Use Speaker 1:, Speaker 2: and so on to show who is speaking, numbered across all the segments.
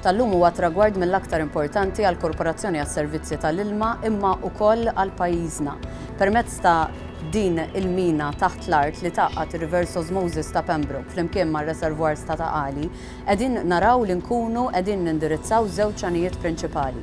Speaker 1: tal-lum huwa tragward mill-aktar importanti għall-Korporazzjoni għas-Servizzi tal-Ilma imma wkoll għal pajjiżna. Permezz ta' Din il-mina taħt l-art li tgħaqqad ir-reverse osmosis ta' Pembroke flimkien mar-reservoirs ta' Ta' Qali, qegħdin naraw li nkunu qegħdin nindirizzaw żewġ għanijiet prinċipali.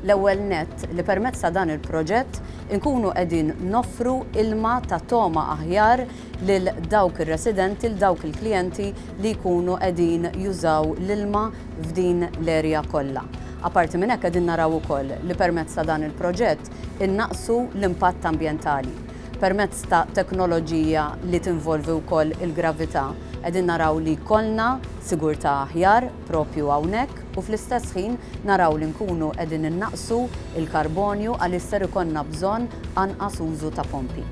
Speaker 1: L-ewwel nett, li permezz ta' dan il-proġett inkunu qegħdin noffru ilma ta' togħma aħjar lil dawk ir-residenti, lil dawk il-klijenti li jkunu qegħdin jużaw l-ilma f'din l-area kollha. Apparti minn hekk qegħdin naraw ukoll li permezz ta' dan il-proġett, innaqqsu l-impatt ambjentali. Permezz ta' teknoloġija li tinvolvi wkoll il-gravità, qegħdin naraw li jkollna sigurtà aħjar proprju hawnhekk u fl-istess ħin naraw li nkunu qegħdin innaqqsu l-karbonju għaliex ser ikollna bżonn anqas użu ta' pompi.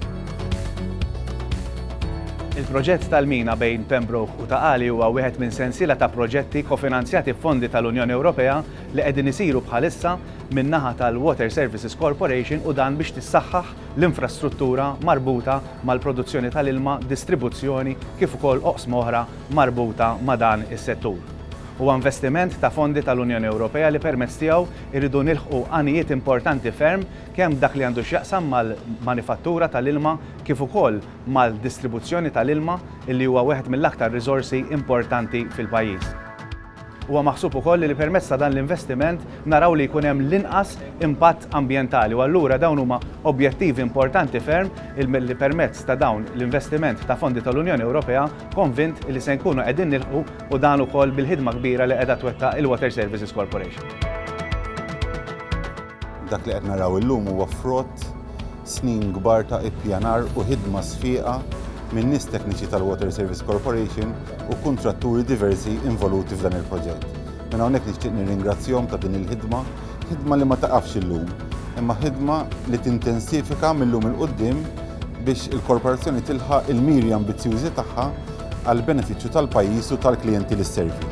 Speaker 2: Il-proġett tal-mina bejn Pembroke u Ta' Qali huwa wieħed minn sensiela ta' proġetti kofinanzjati b'fondi tal-Unjoni Ewropea li qegħdin isiru bħalissa min-naħa tal-Water Services Corporation u dan biex tissaħħaħ l-infrastruttura marbuta mal-produzzjoni tal-ilma, distribuzzjoni kif ukoll oqsma oħra marbuta ma' dan is-settur. Huwa investiment ta' fondi tal-Unjoni Ewropea li permezz tiegħu rridu nilħqu għanijiet importanti ferm kemm f'dak li għandu x'jaqsam mal-manifattura tal-ilma kif ukoll mal-distribuzzjoni tal-ilma li huwa wieħed mill-aktar riżorsi importanti fil-pajjiż. Huwa maħsub ukoll li permezz ta' dan l-investiment naraw li jkun hemm l-inqas impatt ambjentali u allura dawn huma objettivi importanti ferm li permezz ta' dawn l-investiment ta' fondi tal-Unjoni Ewropea konvint li se nkunu qegħdin nilħqu u dan ukoll bil-ħidma kbira li qiegħda twettaq il-Water Services Corporation.
Speaker 3: Dak li qed naraw illum huwa frott snin kbar ta' ippjanar u ħidma sfieqa minn nies tekniċi tal-Water Service Corporation u kuntratturi diversi involuti f'dan il-proġett. Minn hawnhekk nixtieq nirringrazzjahom ta' din il-ħidma, ħidma li ma taqafx illum, imma ħidma li tintensifika mil-lum 'il quddiem biex il-Korporazzjoni tilħaq il-miri ambizzjużi tagħha għall-benefiċċju tal-pajjiż u tal-klijenti li sservi.